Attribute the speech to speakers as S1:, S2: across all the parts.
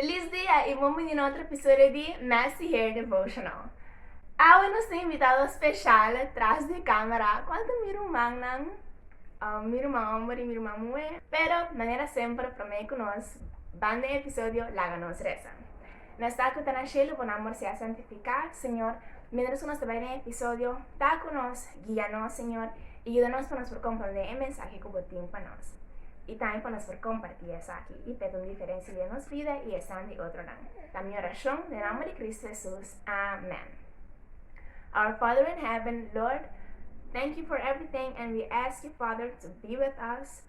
S1: Feliz dia y buen bini na otro episodio di Messy Hair Devotional. Awe nos tin invitado special tras di camera. Cual ta miro mannan, um, miro man hombre y miro man muhe. Pero manera semper prome cu nos, bande episodio laga nos resa. Nos ta cu ta na shelu bo namber sea santifica Señor Mientras cu nos ta bai den episodio ta cu nos guia nos Señor y yuda nos pa nos por comprende e mensahe cu bo tin pa nos y tambe pa nos por comparti esaki y pet un diferencia den nos vida y esan di otronan ta mi oracion den namber di Cristo Jesus amen Our Father in Heaven Lord Thank you for everything and we ask you Father to be with us.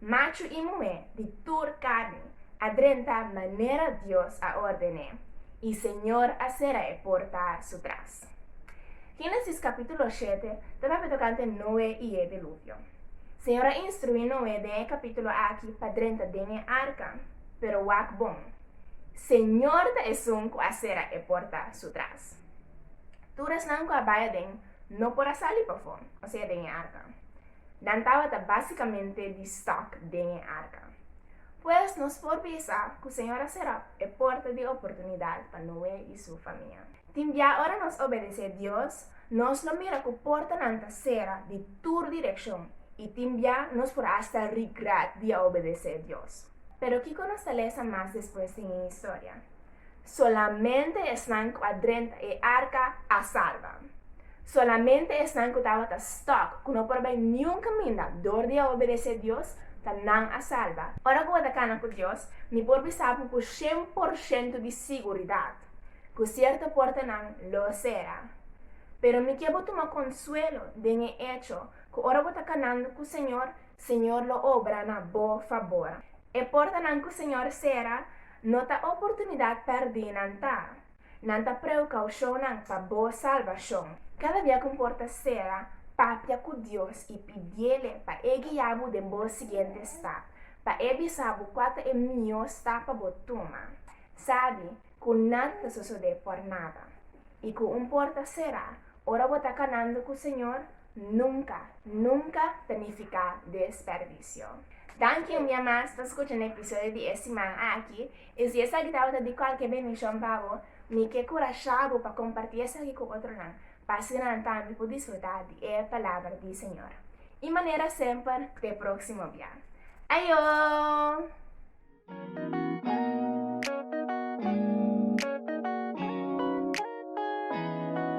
S1: Machu i muhé di tur karni a drenta manera Dios a orden'é, i Señor a sera e porta su tras. Génesis kapítulo shete ta papia tokante Noe i e Diluvio. Señor a instruí Noe den e kapítulo aki pa drenta den e arka, pero wak bon, Señor ta Esun ku a sera e porta su tras. Tur esnan ku a bai aden no por a sali pafó, osea den e arka. Nan tabata básikamente di stòk den e arka. Pues, nos por bisa ku Señor a será e porta di oportunidat pa Noe i su famia. Tin bia ora nos obedesé Dios, nos lo mira ku portanan ta sera di tur direkshon i tin bia nos por asta rigrèt di a obedesé Dios. Pero kiko nos ta lesa mas despues den e historia? Solamente esnan ku a drenta e arka a salba. Solamente esnan ku tabata stòk, ku no por bai niun kaminda dor di a obedesé Dios, ta nan a salba. Ora ku bo ta kana ku Dios, mi por bisa bo ku shen por shentu di siguridat ku sierto portanan lo sera. Pero mi ke bo tuma konsuelo den e echo ku ora bo ta kanando ku Señor, Señor lo obra na bo fabor. E portanan cu Señor cera no ta oportunidad perdi nan ta, nan ta preucaucionnan pa bo salvacion. Cada bia cu un porta cera, papia cu Dios y pidiele pa E guia bo den bo siguiente stap, pa E bisa bo cua ta e mihó stap pa bo tuma. Sabi cu nan ta sosode por nada. Y cu un porta cera, ora bo ta canando cu Señor, Nunca, nunca ta nifica desperdicio. Danki un dia mas pa scucha na episodio di e siman aki. Y si esaki tabata di cualkier bendición pa bo, mi ke curasha bo pa comparti esaki cu otronan, pa asina nan tambe por disfruta di e palabra di Señor. Y manera semper, te proximo bia. Ayo!